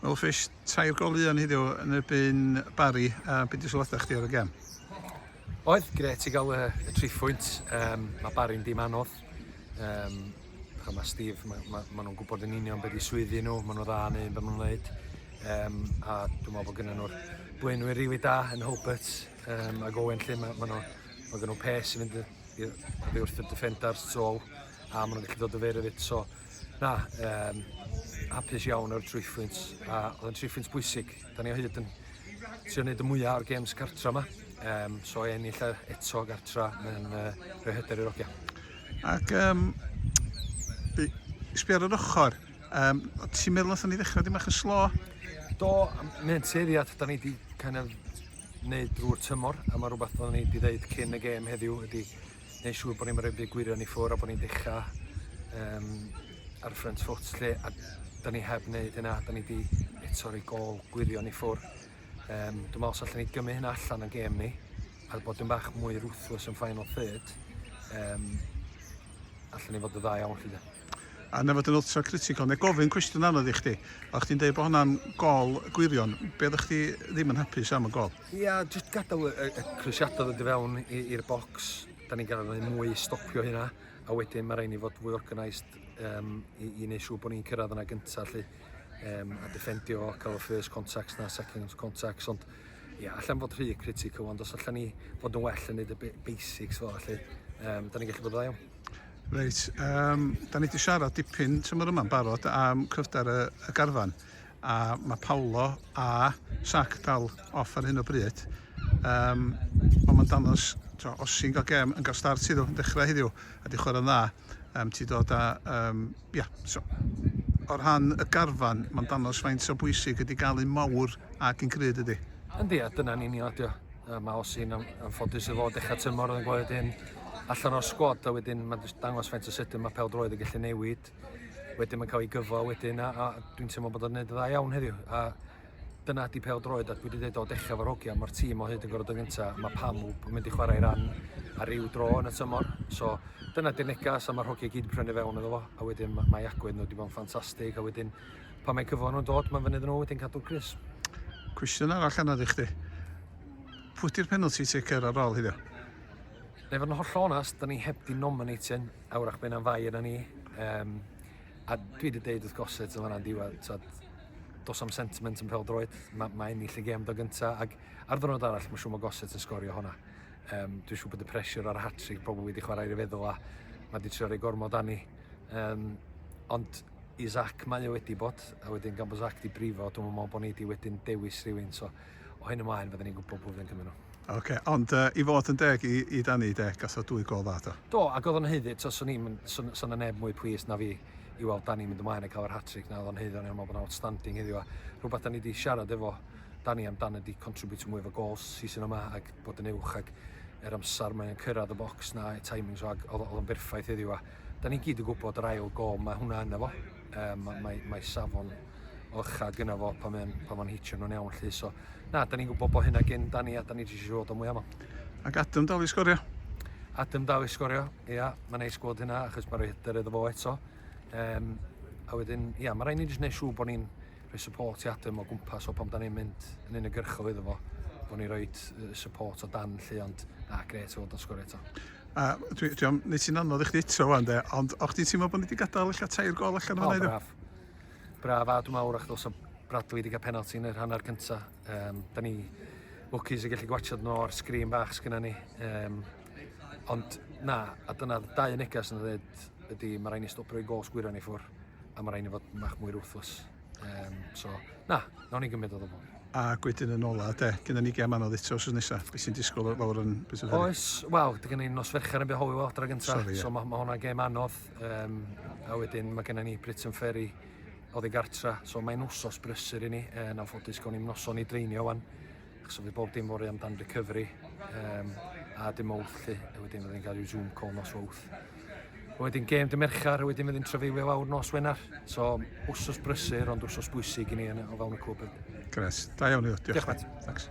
Wel Fish, tair gol un heddiw yn erbyn Barry, a beth di sylwadau chdi ar y gem? Oedd, gret i gael y, y tri phwynt. Um, mae Barry'n dim anodd. Um, a mae Steve, mae ma, ma nhw'n gwybod yn union beth i swyddi nhw, maen nhw dda yn un beth maen nhw'n gwneud. Um, a dwi'n meddwl bod gynnyn nhw'r blaenwyr rili da yn Hulbert um, ac Owen lle mae ma nhw, ma gen nhw pes yn mynd i wrth y defenders trol a maen nhw'n gallu dod o fer y fit. So, Na, um, hapus iawn o'r trwyffwynt, a oedd yn trwyffwynt bwysig. Da ni o hyd yn trio wneud y mwyaf o'r games cartra yma, um, so e ennill e eto gartra yn uh, rhoi hyder i'r ogia. Ac um, sbio ar yr ochr, um, ti'n meddwl nath ni ddechrau dim eich yn slo? Do, mae'n tueddiad, da ni wedi kind of wneud drwy'r tymor, a mae rhywbeth oedden ni wedi dweud cyn y gêm heddiw ydy neu' siŵr bo' ni'n roid y gwirion i ffwr' a bo' ni'n dechra yym ar y front foot 'lly a 'dan ni heb neud hynna 'dan ni 'di eto roi gôl gwirion i ffwr'. Yym dwi me'wl os allwn ni gymryd hynna allan o'n gêm ni a bod dipyn bach mwy ruthless yn final third yym allwn ni fod yn dda iawn 'lly 'de. A na fod yn ultra critical, neu gofyn cwestiwn anodd i chdi, o' chdi'n deud bo' hwnna'n gôl gwirion, be' oddach chdi ddim yn hapus am y gôl? Ia, jyst gadael y, y, y crisiadau ddod i fewn i'r bocs. Da ni'n gael ei mwy stopio hynna. A wedyn mae rhaid ni fod fwy organised um, i, i wneud siŵr bod ni'n cyrraedd yna gyntaf lle. Um, a defendio, cael y first contacts na second contacts. Ond ia, allan fod rhy critical, ond os allan ni fod yn well yn neud y basics fel allu, um, da ni'n gallu bod yn dda Reit, um, da ni wedi siarad dipyn tymor yma'n barod am cryfder y, y garfan. a mae Paolo a Sac dal off ar hyn o bryd um, ond mae'n danos to, os sy'n cael gem yn cael start iddo yn dechrau heddiw a di chwarae'n dda um, ti dod a um, yeah, so, o'r rhan y garfan mae'n danos faint o bwysig ydy gael un mawr ac yn cryd ydy Yndi, a dyna'n union ydi o. Uh, mae Osi'n am, amffodus efo dechrau tymor yn gweld wedyn allan o'r sgwad a wedyn mae'n dangos faint o sydyn mae pel droed yn gallu newid wedyn mae'n cael ei gyfo wedyn a, a dwi'n teimlo bod o'n gwneud y dda iawn heddiw. A dyna di pel droed a dwi wedi dweud o dechrau fo'r hogia, mae'r tîm o hyd yn gorfod yn gynta, mae pam yn mynd i chwarae ran ar ryw dro yn y tymor. So dyna di'r negas a mae'r hogia gyd yn prynu fewn iddo fo a wedyn mae agwedd nhw wedi bod yn ffantastig a wedyn pan mae cyfo nhw'n dod mae'n fynydd nhw wedyn cadw'r Chris. Cwestiwn arall anodd i chdi. Pwy di'r penalty taker ar ôl hyddo? I fod yn hollol onest, da ni heb di nominating awrach byn am fai yna ni. Um, a dwi wedi deud wrth goset yn fanna'n diwedd, tyd, dos am sentiment yn pêl droed, mae ma ennill y gem do gynta, ac ar ddwrnod arall mae siŵr mae goset yn sgorio hwnna. Um, dwi'n siŵr bod y pressure ar y hat-trick pobl wedi chwarae i'r feddwl a mae wedi trio rhoi gormod anni. Um, ond i Zac mae o wedi bod, a wedyn gan bod Zac di brifo, dwi'n meddwl bod ni wedi wedyn dewis rhywun. So, o hyn ymlaen fydden ni'n gwybod pwy fydd yn cymryd nhw. Ocê, ond yy i fod yn deg i i Danny de, gasodd dwy gôl dda do? Do, ac oedd o'n haeddu, tibod, swn i'm yn, swn, swn 'na neb mwy plis na fi i weld Danny mynd ymlaen a cael yr hat-trick 'na, oedd o'n haeddu, o'n i'n meddwl bod o'n outstanding heddiw, a rhywbeth 'da ni 'di siarad efo Danny amdan ydi contributio mwy efo gols season yma ac bod yn uwch ac yr amser mae'n cyrraedd y bocs 'na, timings o, ac oedd oedd o'n berffaith heddiw, a 'da ni gyd yn gwybod yr ail gôl mae hwnna ynddo fo. um, mae, mae, mae safon orcha gyna fo pan mae'n pan mae'n hitio nhw'n iawn lly. So, na, da ni'n gwybod bod hynna gen da ni a da ni wedi siŵr o mwy am Ac Adam dal i sgorio? Adam dal i sgorio, ia, mae'n neis gweld hynna achos mae'n rhoi hyder iddo fo eto. Um, a wedyn, ia, mae rhaid ni jyst gwneud siŵr bod ni'n rhoi support i Adam o gwmpas o pan da ni'n mynd yn unigyrchol iddo fo bod ni roi support o dan llu ond na gret fod o'n sgorio eto. A dwi, dwi am wneud ti'n anodd i chdi eto fan de, ond o'ch ti'n teimlo bod ni wedi gadael eich tair gol allan o'n wneud? Braf. Braf a dwi'n mawr o'ch dos o Bradley wedi cael penalty yn yr hanner cyntaf. Um, da ni lwcus i gallu gwachod nhw o'r sgrin bach sgynna ni. Um, Ond na, a dyna dau y neges yn dweud ydy mae rhaid ni stop rhoi gols gwyra ni ffwr a mae rhaid ni fod mach mwy ruthless. Um, so, na, nawn ni gymryd o ddobl. A gwydyn yn ola, de, gyda ni gem anodd eto os nesaf. Beth sy'n disgwyl fawr yn beth yw'r Oes, wel, dy gynnu nos fercher yn behowi wel dra gyntaf. Sorry, so mae ma hwnna gem anodd. Um, a wedyn mae gennym ni Britain Ferry oedd ei gartra. So mae'n wsos brysur i ni. E, yn anffodus, gawn ni'n noson i dreinio wan. achos oedd bob dim fory amdan recovery um, a dim mowth lly, a wedyn fydden ni'n cael rhyw Zoom call nos wawth. A wedyn gêm dy Merchar, a wedyn fydden ni'n trafeilio fawr nos Wener. So, wsos brysur, ond wsos bwysig i ni o fewn y cwb. Gres, da iawn i ddod. Diolch, Diolch Matt. Thanks.